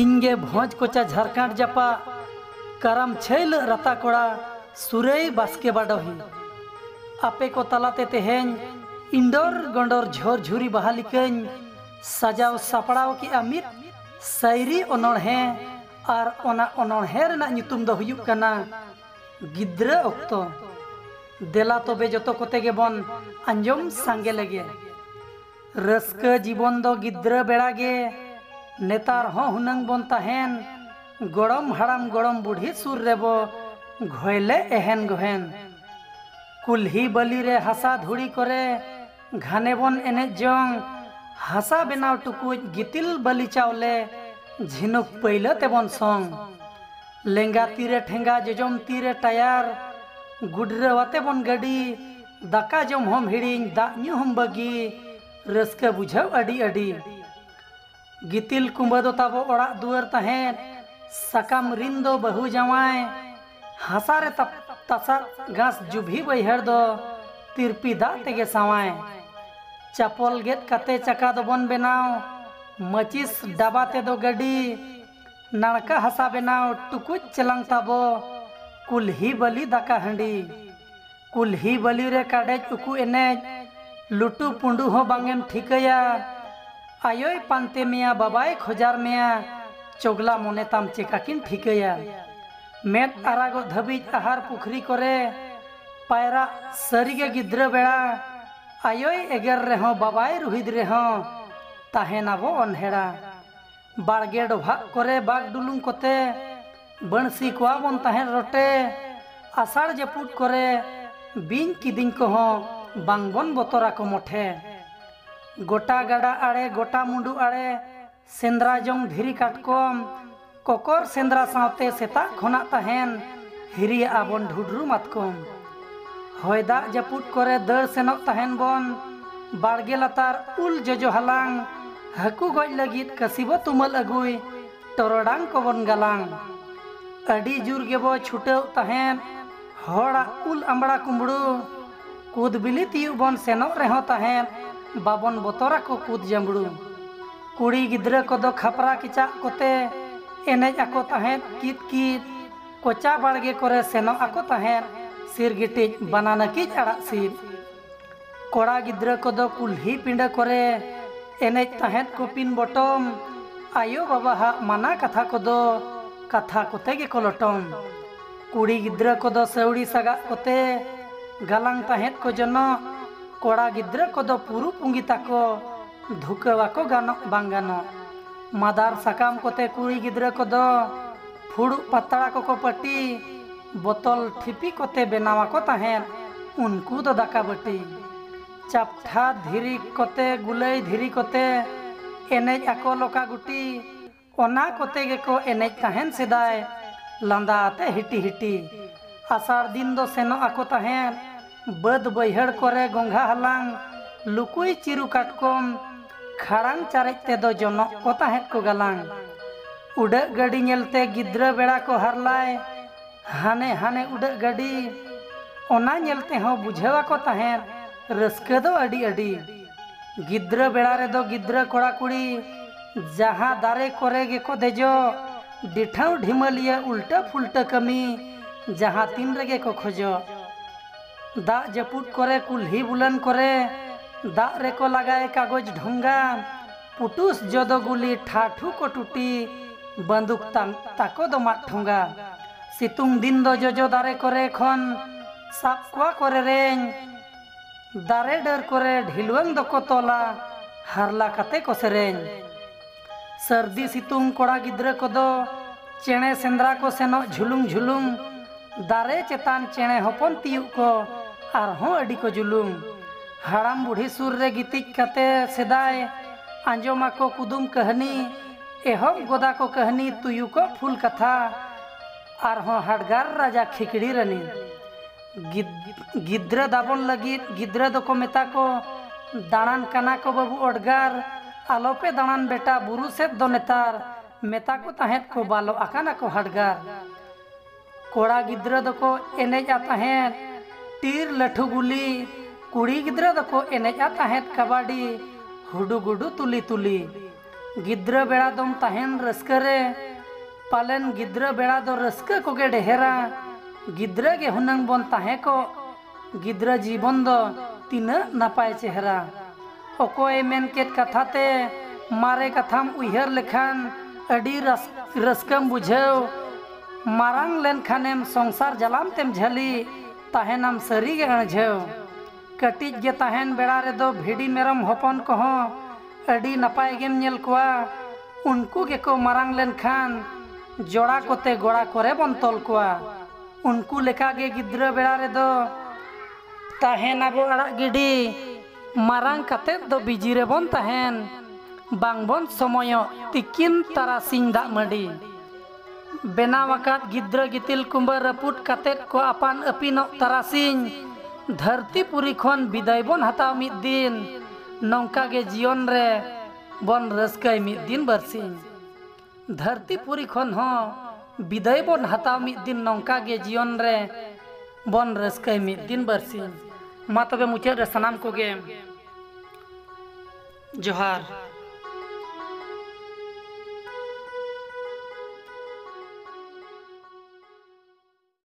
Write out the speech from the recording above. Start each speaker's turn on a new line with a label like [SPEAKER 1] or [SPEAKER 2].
[SPEAKER 1] ᱤᱧᱜᱮ ᱵᱷᱚᱸᱡᱽ ᱠᱚᱪᱟ ᱡᱷᱟᱨᱠᱟᱸᱰ ᱡᱟᱯᱟᱜ ᱠᱟᱨᱟᱢ ᱪᱷᱟᱹᱭᱞᱟᱹᱜ ᱨᱟᱛᱟ ᱠᱚᱲᱟ ᱥᱩᱨᱟᱹᱭ ᱵᱟᱥᱠᱮ ᱵᱟᱰᱚᱦᱤ ᱟᱯᱮ ᱠᱚ ᱛᱟᱞᱟᱛᱮ ᱛᱮᱦᱮᱧ ᱤᱸᱰᱚᱨ ᱜᱚᱸᱰᱚᱨ ᱡᱷᱚᱨ ᱡᱷᱩᱨᱤ ᱵᱟᱦᱟ ᱞᱮᱠᱟᱧ ᱥᱟᱡᱟᱣ ᱥᱟᱯᱲᱟᱣ ᱠᱮᱫᱼᱟ ᱢᱤᱫ ᱥᱟᱭᱨᱤ ᱚᱱᱚᱬᱦᱮᱸ ᱟᱨ ᱚᱱᱟ ᱚᱱᱚᱬᱦᱮᱸ ᱨᱮᱱᱟᱜ ᱧᱩᱛᱩᱢ ᱫᱚ ᱦᱩᱭᱩᱜ ᱠᱟᱱᱟ ᱜᱤᱫᱽᱨᱟᱹ ᱚᱠᱛᱚ ᱫᱮᱞᱟ ᱛᱚᱵᱮ ᱡᱚᱛᱚ ᱠᱚᱛᱮ ᱜᱮᱵᱚᱱ ᱟᱸᱡᱚᱢ ᱥᱟᱸᱜᱮ ᱞᱮᱜᱮ ᱨᱟᱹᱥᱠᱟᱹ ᱡᱤᱵᱚᱱ ᱫᱚ ᱜᱤᱫᱽᱨᱟᱹ ᱵᱮᱲᱟ ᱜᱮ ᱱᱮᱛᱟᱨ ᱦᱚᱸ ᱦᱩᱱᱟᱹᱝ ᱵᱚᱱ ᱛᱟᱦᱮᱱ ᱜᱚᱲᱚᱢ ᱦᱟᱲᱟᱢ ᱜᱚᱲᱚᱢ ᱵᱩᱰᱷᱤ ᱥᱩᱨ ᱨᱮᱵᱚ ᱜᱷᱚᱭᱞᱮ ᱮᱦᱮᱱ ᱜᱚᱦᱮᱱ ᱠᱩᱞᱦᱤ ᱵᱟᱹᱞᱤ ᱨᱮ ᱦᱟᱥᱟ ᱫᱷᱩᱲᱤ ᱠᱚᱨᱮ ᱜᱷᱟᱱᱮ ᱵᱚᱱ ᱮᱱᱮᱡ ᱡᱚᱝ ᱦᱟᱥᱟ ᱵᱮᱱᱟᱣ ᱴᱩᱠᱩᱡ ᱜᱤᱛᱤᱞ ᱵᱟᱹᱞᱤ ᱪᱟᱣᱞᱮ ᱡᱷᱤᱱᱩᱠ ᱯᱟᱹᱭᱞᱟᱹ ᱛᱮᱵᱚᱱ ᱥᱚᱝ ᱞᱮᱸᱜᱟ ᱛᱤᱨᱮ ᱴᱷᱮᱸᱜᱟ ᱡᱚᱡᱚᱢ ᱛᱤᱨᱮ ᱴᱟᱭᱟᱨ ᱜᱩᱰᱨᱟᱹᱣ ᱟᱛᱮ ᱵᱚᱱ ᱜᱟᱹᱰᱤ ᱫᱟᱠᱟ ᱡᱚᱢ ᱦᱚᱢ ᱦᱤᱲᱤᱧ ᱫᱟᱜ ᱧᱩ ᱦᱚᱢ ᱵᱟᱹᱜᱤ ᱨᱟᱹᱥᱠᱟᱹ ᱵᱩᱡᱷᱟᱹᱣ ᱟᱹᱰᱤ ᱟᱹᱰᱤ ᱜᱤᱛᱤᱞ ᱠᱩᱢᱵᱟᱹ ᱫᱚ ᱛᱟᱵᱚ ᱚᱲᱟᱜ ᱫᱩᱣᱟᱹᱨ ᱛᱟᱦᱮᱸᱫ ᱥᱟᱠᱟᱢ ᱨᱤᱱ ᱫᱚ ᱵᱟᱹᱦᱩ ᱡᱟᱶᱟᱭ ᱦᱟᱥᱟ ᱨᱮ ᱛᱟᱯ ᱛᱟᱥᱟᱫ ᱜᱷᱟᱥ ᱡᱩᱵᱷᱤ ᱵᱟᱹᱭᱦᱟᱹᱲ ᱫᱚ ᱛᱤᱨᱯᱤ ᱫᱟᱜ ᱛᱮᱜᱮ ᱥᱟᱶᱟᱭ ᱪᱟᱯᱚᱞ ᱜᱮᱫ ᱠᱟᱛᱮ ᱪᱟᱠᱟ ᱫᱚᱵᱚᱱ ᱵᱮᱱᱟᱣ ᱢᱟᱹᱪᱤᱥ ᱰᱟᱵᱟ ᱛᱮᱫᱚ ᱜᱟᱹᱰᱤ ᱱᱟᱲᱠᱟ ᱦᱟᱥᱟ ᱵᱮᱱᱟᱣ ᱴᱩᱠᱩᱡ ᱪᱮᱞᱟᱝ ᱛᱟᱵᱚ ᱠᱩᱞᱦᱤ ᱵᱟᱹᱞᱤ ᱫᱟᱠᱟ ᱦᱟᱺᱰᱤ ᱠᱩᱞᱦᱤ ᱵᱟᱹᱞᱤ ᱨᱮ ᱠᱟᱰᱮᱡ ᱩᱠᱩ ᱮᱱᱮᱡ ᱞᱩᱴᱩ ᱯᱩᱸᱰᱩ ᱦᱚᱸ ᱵᱟᱝ ᱮᱢ ᱴᱷᱤᱠᱟᱹᱭᱟ ᱟᱭᱳᱭ ᱯᱟᱱᱛᱮ ᱢᱮᱭᱟ ᱵᱟᱵᱟᱭ ᱠᱷᱚᱡᱟᱨ ᱢᱮᱭᱟ ᱪᱚᱜᱽᱞᱟ ᱢᱚᱱᱮ ᱛᱟᱢ ᱪᱮᱠᱟ ᱠᱤᱱ ᱴᱷᱤᱠᱟᱹᱭᱟ ᱢᱮᱫ ᱟᱨᱟᱜᱚᱜ ᱫᱷᱟᱹᱵᱤᱡ ᱟᱦᱟᱨ ᱯᱩᱠᱷᱨᱤ ᱠᱚᱨᱮ ᱯᱟᱭᱨᱟᱜ ᱥᱟᱹᱨᱤ ᱜᱮ ᱜᱤᱫᱽᱨᱟᱹ ᱵᱮᱲᱟ ᱟᱭᱳᱭ ᱮᱜᱮᱨ ᱨᱮᱦᱚᱸ ᱵᱟᱵᱟᱭ ᱨᱩᱦᱤᱫ ᱨᱮᱦᱚᱸ ᱛᱟᱦᱮᱸ ᱱᱟᱵᱚ ᱚᱱᱦᱮᱲᱟ᱾ ᱵᱟᱲᱜᱮ ᱰᱚᱵᱷᱟᱜ ᱠᱚᱨᱮ ᱵᱟᱜᱽ ᱰᱩᱞᱩᱝ ᱠᱚᱛᱮ ᱵᱟᱹᱬᱥᱤ ᱠᱚᱣᱟ ᱵᱚᱱ ᱛᱟᱦᱮᱸᱫ ᱨᱚᱴᱮ ᱟᱥᱟᱲ ᱡᱟᱹᱯᱩᱫ ᱠᱚᱨᱮ ᱵᱤᱧ ᱠᱤᱫᱤᱧ ᱠᱚᱦᱚᱸ ᱵᱟᱝ ᱵᱚᱱ ᱵᱚᱛᱚᱨ ᱟᱠᱚ ᱢᱚᱴᱷᱮ ᱜᱚᱴᱟ ᱜᱟᱰᱟ ᱟᱲᱮ ᱜᱚᱴᱟ ᱢᱩᱸᱰᱩ ᱟᱲᱮ ᱥᱮᱸᱫᱽᱨᱟ ᱡᱚᱝ ᱫᱷᱤᱨᱤ ᱠᱟᱴᱠᱚᱢ ᱠᱚᱠᱚᱨ ᱥᱮᱸᱫᱽᱨᱟ ᱥᱟᱶᱛᱮ ᱥᱮᱛᱟᱜ ᱠᱷᱚᱱᱟᱜ ᱛᱟᱦᱮᱱ ᱦᱤᱨᱤᱭᱟᱜᱼᱟ ᱵᱚᱱ ᱰᱷᱩᱰᱨᱩ ᱢᱟᱛᱠᱚᱢ ᱦᱚᱭ ᱫᱟᱜ ᱡᱟᱹᱯᱩᱫ ᱠᱚᱨᱮ ᱫᱟᱹᱲ ᱥᱮᱱᱚᱜ ᱛᱟᱦᱮᱱ ᱵᱚᱱ ᱵᱟᱲᱜᱮ ᱞᱟᱛᱟᱨ ᱩᱞ ᱡᱚᱡᱚ ᱦᱟᱞᱟᱝ ᱦᱟᱹᱠᱩ ᱜᱚᱡ ᱞᱟᱹᱜᱤᱫ ᱠᱟᱹᱥᱤ ᱵᱚ ᱛᱩᱢᱟᱹᱞ ᱟᱹᱜᱩᱭ ᱴᱚᱨᱚᱰᱟᱝ ᱠᱚᱵᱚᱱ ᱜᱟᱞᱟᱝ ᱟᱹᱰᱤ ᱡᱩᱨ ᱜᱮᱵᱚ ᱪᱷᱩᱴᱟᱹᱣ ᱛᱟᱦᱮᱸᱫ ᱦᱚᱲᱟᱜ ᱩᱞ ᱟᱢᱵᱽᱲᱟ ᱠᱩᱢᱵᱽᱲᱩ ᱠᱩᱫ ᱵᱤᱞᱤ ᱛᱤᱭᱩᱜ ᱵᱚᱱ ᱥᱮᱱᱚᱜ ᱨᱮᱦᱚᱸ ᱛᱟᱦᱮᱸᱫ ᱵᱟᱵᱚᱱ ᱵᱚᱛᱚᱨ ᱟᱠᱚ ᱠᱩᱫ ᱡᱟᱹᱢᱵᱽᱲᱩ ᱠᱩᱲᱤ ᱜᱤᱫᱽᱨᱟᱹ ᱠᱚᱫᱚ ᱠᱷᱟᱯᱨᱟ ᱠᱮᱪᱟᱜ ᱠᱚᱛᱮ ᱮᱱᱮᱡ ᱟᱠᱚ ᱛᱟᱦᱮᱸᱫ ᱠᱤᱫ ᱠᱤᱫ ᱠᱚᱪᱟ ᱵᱟᱲᱜᱮ ᱠᱚᱨᱮ ᱥᱮᱱᱚᱜ ᱟᱠᱚ ᱛᱟᱦᱮᱸᱫ ᱥᱤᱨᱜᱤᱴᱤᱡ ᱵᱟᱱᱟᱱᱟᱹᱠᱤᱡ ᱟᱲᱟᱜ ᱥᱤᱫ ᱠᱚᱲᱟ ᱜᱤᱫᱽᱨᱟᱹ ᱠᱚᱫᱚ ᱠᱩᱞᱦᱤ ᱯᱤᱸᱰᱟᱹ ᱠᱚᱨᱮ ᱮᱱᱮᱡ ᱛᱟᱦᱮᱸᱫ ᱠᱚᱯᱤᱱ ᱵᱚᱴᱚᱢ ᱟᱭᱳ ᱵᱟᱵᱟ ᱦᱟᱜ ᱢᱟᱱᱟ ᱠᱟᱛᱷᱟ ᱠᱚᱫᱚ ᱠᱟᱛᱷᱟ ᱠᱚᱛᱮ ᱜᱮᱠᱚ ᱞᱚᱴᱚᱢ ᱠᱩᱲᱤ ᱜᱤᱫᱽᱨᱟᱹ ᱠᱚᱫᱚ ᱥᱟᱹᱣᱲᱤ ᱥᱟᱜᱟᱜ ᱠᱚᱛᱮ ᱜᱟᱞᱟᱝ ᱛᱟᱦᱮᱸᱫ ᱠᱚ ᱡᱚᱱᱚᱜ ᱠᱚᱲᱟ ᱜᱤᱫᱽᱨᱟᱹ ᱠᱚᱫᱚ ᱯᱩᱨᱩ ᱯᱩᱸᱜᱤ ᱛᱟᱠᱚ ᱫᱷᱩᱠᱟᱹᱣᱟᱠᱚ ᱜᱟᱱᱚᱜ ᱵᱟᱝ ᱜᱟᱱᱚᱜ ᱢᱟᱫᱟᱨ ᱥᱟᱠᱟᱢ ᱠᱚᱛᱮ ᱠᱩᱲᱤ ᱜᱤᱫᱽᱨᱟᱹ ᱠᱚᱫᱚ ᱯᱷᱩᱲᱩᱜ ᱯᱟᱛᱲᱟ ᱠᱚᱠᱚ ᱯᱟᱹᱴᱤ ᱵᱚᱛᱚᱞ ᱴᱷᱤᱯᱤ ᱠᱚᱛᱮ ᱵᱮᱱᱟᱣ ᱟᱠᱚ ᱛᱟᱦᱮᱸᱫ ᱩᱱᱠᱩ ᱫᱚ ᱫᱟᱠᱟ ᱵᱟᱹᱴᱤ᱾ ᱪᱟᱯᱴᱷᱟ ᱫᱷᱤᱨᱤ ᱠᱚᱛᱮ ᱜᱩᱞᱟᱹᱭ ᱫᱷᱤᱨᱤ ᱠᱚᱛᱮ ᱮᱱᱮᱡ ᱟᱠᱚ ᱞᱚᱠᱟ ᱜᱩᱴᱤ᱾ ᱚᱱᱟ ᱠᱚᱛᱮ ᱜᱮᱠᱚ ᱮᱱᱮᱡ ᱛᱟᱦᱮᱸᱫ ᱥᱮᱫᱟᱭ ᱞᱟᱸᱫᱟ ᱟᱛᱮ ᱦᱤᱴᱤ ᱦᱤᱴᱤ᱾ ᱟᱥᱟᱲ ᱫᱤᱱ ᱫᱚ ᱥᱮᱱᱚᱜ ᱟᱠᱚ ᱛᱟᱦᱮᱸᱫ ᱵᱟᱹᱫᱽ ᱵᱟᱹᱭᱦᱟᱹᱲ ᱠᱚᱨᱮ ᱜᱚᱸᱜᱷᱟ ᱦᱟᱞᱟᱝ, ᱞᱩᱠᱩᱭ ᱪᱤᱨᱩ ᱠᱟᱴᱠᱚᱢ, ᱠᱷᱟᱲᱟᱝ ᱪᱟᱨᱮᱡ ᱛᱮᱫᱚ ᱡᱚᱱᱚᱜ ᱠᱚ ᱛᱟᱦᱮᱸᱫ ᱠᱚ ᱜᱟᱞᱟᱝ᱾ ᱩᱰᱟᱹᱜ ᱜᱟᱹᱰᱤ ᱧᱮᱞᱛᱮ ᱜᱤᱫᱽᱨᱟᱹ ᱵᱮᱲᱟ ᱠᱚ ᱦᱟᱨᱞᱟᱭ, ᱦᱟᱱᱮ ᱦᱟᱱᱮ ᱩᱰᱟᱹᱜ ᱜᱟᱹᱰᱤ᱾ ᱚᱱᱟ ᱧᱮᱞ ᱛᱮᱦᱚᱸ ᱵᱩᱡᱷᱟᱹᱣ ᱟᱠᱚ ᱛᱟᱦᱮᱸᱫ ᱨᱟᱹᱥᱠᱟᱹ ᱫᱚ ᱟᱹᱰᱤ ᱟᱹᱰᱤ᱾ ᱜᱤᱫᱽᱨᱟᱹ ᱵᱮᱲᱟ ᱨᱮᱫᱚ ᱜᱤᱫᱽᱨᱟᱹ ᱠᱚᱲᱟ ᱠᱩᱲᱤ ᱡᱟᱦᱟᱸ ᱫᱟᱨᱮ ᱠᱚᱨᱮ ᱜᱮᱠᱚ ᱫᱮᱡᱚᱜ ᱰᱤᱴᱷᱟᱹᱣ ᱰᱷᱤᱢᱟᱹᱞᱤᱭᱟᱹ ᱩᱞᱴᱟᱹ ᱯᱷᱩᱞᱴᱟᱹ ᱠᱟᱹᱢᱤ ᱡᱟᱦᱟᱸ ᱛᱤᱱ ᱨᱮᱜᱮ ᱠᱚ ᱠᱷᱚᱡᱚᱜ ᱫᱟᱜ ᱡᱟᱹᱯᱩᱫ ᱠᱚᱨᱮ ᱠᱩᱞᱦᱤ ᱵᱩᱞᱟᱹᱱ ᱠᱚᱨᱮ ᱫᱟᱜ ᱨᱮᱠᱚ ᱞᱟᱜᱟᱭ ᱠᱟᱜᱚᱡᱽ ᱰᱷᱚᱸᱜᱟ ᱯᱩᱴᱩᱥ ᱡᱚᱫᱚ ᱜᱩᱞᱤ ᱴᱷᱟᱴᱷᱩ ᱠᱚ ᱴᱩᱴᱤ ᱵᱟᱹᱱᱫᱩᱠ ᱛᱟᱝ ᱛᱟᱠᱚ ᱫᱚ ᱢᱟᱫ ᱴᱷᱚᱸᱜᱟ ᱥᱤᱛᱩᱝ ᱫᱤᱱ ᱫᱚ ᱡᱚᱡᱚ ᱫᱟᱨᱮ ᱠᱚᱨᱮ ᱠᱷᱚᱱ ᱥᱟᱵ ᱠᱚᱣᱟ ᱠᱚ ᱨᱮᱨᱮᱧ ᱫᱟᱨᱮ ᱰᱟᱹᱨ ᱠᱚᱨᱮ ᱰᱷᱤᱞᱣᱟᱹᱝ ᱫᱚᱠᱚ ᱛᱚᱞᱟ ᱦᱟᱨᱞᱟ ᱠᱟᱛᱮ ᱠᱚ ᱥᱮᱨᱮᱧ ᱥᱟᱹᱨᱫᱤ ᱥᱤᱛᱩᱝ ᱠᱚᱲᱟ ᱜᱤᱫᱽᱨᱟᱹ ᱠᱚᱫᱚ ᱪᱮᱬᱮ ᱥᱮᱸᱫᱽᱨᱟ ᱠᱚ ᱥᱮᱱᱚᱜ ᱡᱷᱩᱞᱩᱢ ᱡᱷᱩᱞᱩᱢ ᱫᱟᱨᱮ ᱪᱮᱛᱟᱱ ᱪᱮᱬᱮ ᱦᱚᱯᱚᱱ ᱛᱤᱭᱩᱜ ᱠᱚ ᱟᱨᱦᱚᱸ ᱟᱹᱰᱤ ᱠᱚ ᱡᱩᱞᱩᱢ ᱦᱟᱲᱟᱢ ᱵᱩᱲᱦᱤ ᱥᱩᱨ ᱨᱮ ᱜᱤᱛᱤᱡ ᱠᱟᱛᱮ ᱥᱮᱫᱟᱭ ᱟᱸᱡᱚᱢ ᱟᱠᱚ ᱠᱩᱫᱩᱢ ᱠᱟᱹᱦᱱᱤ ᱮᱦᱚᱵ ᱜᱚᱫᱟ ᱠᱚ ᱠᱟᱹᱦᱱᱤ ᱛᱩᱭᱩ ᱠᱚ ᱯᱷᱩᱞ ᱠᱟᱛᱷᱟ ᱟᱨᱦᱚᱸ ᱦᱟᱰᱜᱟᱨ ᱨᱟᱡᱟ ᱠᱷᱤᱠᱲᱤ ᱨᱟᱹᱱᱤ ᱜᱤᱫᱽᱨᱟᱹ ᱫᱟᱵᱚᱱ ᱞᱟᱹᱜᱤᱫ ᱜᱤᱫᱽᱨᱟᱹ ᱫᱚᱠᱚ ᱢᱮᱛᱟ ᱠᱚ ᱫᱟᱬᱟᱱ ᱠᱟᱱᱟ ᱠᱚ ᱵᱟᱹᱵᱩ ᱚᱰᱜᱟᱨ ᱟᱞᱚᱯᱮ ᱫᱟᱬᱟᱱ ᱵᱮᱴᱟ ᱵᱩᱨᱩ ᱥᱮᱫ ᱫᱚ ᱱᱮᱛᱟᱨ ᱢᱮᱛᱟ ᱠᱚ ᱛᱟᱦᱮᱸᱫ ᱠᱚ ᱵᱟᱞᱚᱜ ᱟᱠᱟᱱᱟ ᱠᱚ ᱦᱟᱰᱜᱟᱨ ᱠᱚᱲᱟ ᱜᱤᱫᱽᱨᱟᱹ ᱫᱚᱠᱚ ᱮᱱᱮᱡᱼᱟ ᱛᱟᱦᱮᱸᱫ ᱴᱤᱨ ᱞᱟᱹᱴᱷᱩ ᱜᱩᱞᱤ ᱠᱩᱲᱤ ᱜᱤᱫᱽᱨᱟᱹ ᱫᱚᱠᱚ ᱮᱱᱮᱡᱼᱟ ᱛᱟᱦᱮᱸᱫ ᱠᱟᱵᱟᱰᱤ ᱦᱩᱰᱩᱜᱩᱰᱩ ᱛᱩᱞᱤ ᱛᱩᱞᱤ ᱜᱤᱫᱽᱨᱟᱹ ᱵᱮᱲᱟ ᱫᱚᱢ ᱛᱟᱦᱮᱱ ᱨᱟᱹᱥᱠᱟᱹ ᱨᱮ ᱯᱟᱞᱮᱱ ᱜᱤᱫᱽᱨᱟᱹ ᱵᱮᱲᱟ ᱫᱚ ᱨᱟᱹᱥᱠᱟᱹ ᱠᱚᱜᱮ ᱰᱮᱦᱮᱨᱟ ᱜᱤᱫᱽᱨᱟᱹ ᱜᱮ ᱦᱩᱱᱟᱹᱝ ᱵᱚᱱ ᱛᱟᱦᱮᱸ ᱠᱚᱜ ᱜᱤᱫᱽᱨᱟᱹ ᱡᱤᱵᱚᱱ ᱫᱚ ᱛᱤᱱᱟᱹᱜ ᱱᱟᱯᱟᱭ ᱪᱮᱦᱨᱟ ᱚᱠᱚᱭ ᱢᱮᱱ ᱠᱮᱫ ᱠᱟᱛᱷᱟ ᱛᱮ ᱢᱟᱨᱮ ᱠᱟᱛᱷᱟᱢ ᱩᱭᱦᱟᱹᱨ ᱞᱮᱠᱷᱟᱱ ᱟᱹᱰᱤ ᱨᱟᱹᱥᱠᱟᱹᱢ ᱵᱩᱡᱷᱟᱹᱣ ᱢᱟᱨᱟᱝ ᱞᱮᱱᱠᱷᱟᱱᱮᱢ ᱥᱚᱝᱥᱟᱨ ᱡᱟᱞᱟᱢ ᱛᱮᱢ ᱡᱷᱟᱹᱞᱤ ᱛᱟᱦᱮᱱᱟᱢ ᱥᱟᱹᱨᱤᱜᱮ ᱟᱹᱲᱡᱷᱟᱹᱣ ᱠᱟᱹᱴᱤᱡ ᱜᱮ ᱛᱟᱦᱮᱱ ᱵᱮᱲᱟ ᱨᱮᱫᱚ ᱵᱷᱤᱰᱤ ᱢᱮᱨᱚᱢ ᱦᱚᱯᱚᱱ ᱠᱚᱦᱚᱸ ᱟᱹᱰᱤ ᱱᱟᱯᱟᱭ ᱜᱮᱢ ᱧᱮᱞ ᱠᱚᱣᱟ᱾ ᱩᱱᱠᱩ ᱜᱮᱠᱚ ᱢᱟᱨᱟᱝ ᱞᱮᱱ ᱠᱷᱟᱱ ᱡᱚᱲᱟ ᱠᱚᱛᱮ ᱜᱚᱲᱟ ᱠᱚᱨᱮ ᱵᱚᱱ ᱛᱚᱞ ᱠᱚᱣᱟ᱾ ᱩᱱᱠᱩ ᱞᱮᱠᱟ ᱜᱮ ᱜᱤᱫᱽᱨᱟᱹ ᱵᱮᱲᱟ ᱨᱮᱫᱚ᱾ ᱛᱟᱦᱮᱱ ᱟᱵᱚ ᱟᱲᱟᱜ ᱜᱤᱰᱤ᱾ ᱢᱟᱨᱟᱝ ᱠᱟᱛᱮ ᱫᱚ ᱵᱤᱡᱤ ᱨᱮᱵᱚᱱ ᱛᱟᱦᱮᱱ᱾ ᱵᱟᱝ ᱵᱚᱱ ᱥᱚᱢᱚᱭᱚᱜ ᱛᱤᱠᱤᱱ ᱛᱟᱨᱟᱥᱤᱧ ᱫᱟᱜ ᱢᱟᱹᱰᱤ᱾ ᱵᱮᱱᱟᱣ ᱟᱠᱟᱫ ᱜᱤᱫᱽᱨᱟᱹ ᱜᱤᱛᱤᱞ ᱠᱩᱸᱵᱟᱹ ᱨᱟᱹᱯᱩᱫ ᱠᱟᱛᱮᱫ ᱠᱚ ᱟᱯᱟᱱ ᱟᱹᱯᱤᱱᱚᱜ ᱛᱟᱨᱟᱥᱤᱧ ᱫᱷᱟᱹᱨᱛᱤ ᱯᱩᱨᱤ ᱠᱷᱚᱱ ᱵᱤᱫᱟᱹᱭ ᱵᱚᱱ ᱦᱟᱛᱟᱣ ᱢᱤᱫ ᱫᱤᱱ ᱱᱚᱝᱠᱟ ᱜᱮ ᱡᱤᱭᱚᱱ ᱨᱮ ᱵᱚᱱ ᱨᱟᱹᱥᱠᱟᱹᱭ ᱢᱤᱫ ᱫᱤᱱ ᱵᱟᱹᱨᱥᱤᱧ ᱫᱷᱟᱹᱨᱛᱤ ᱯᱩᱨᱤ ᱠᱷᱚᱱ ᱦᱚᱸ ᱵᱤᱫᱟᱹᱭ ᱵᱚᱱ ᱦᱟᱛᱟᱣ ᱢᱤᱫ ᱫᱤᱱ ᱱᱚᱝᱠᱟ ᱜᱮ ᱡᱤᱭᱚᱱ ᱨᱮ ᱵᱚᱱ ᱨᱟᱹᱥᱠᱟᱹᱭ ᱢᱤᱫ ᱫᱤᱱ ᱵᱟᱹᱨᱥᱤᱧ ᱢᱟ ᱛᱚᱵᱮ ᱢᱩᱪᱟᱹᱫ ᱨᱮ ᱥᱟᱱᱟᱢ ᱠᱚᱜᱮ ᱡᱚᱦᱟᱨ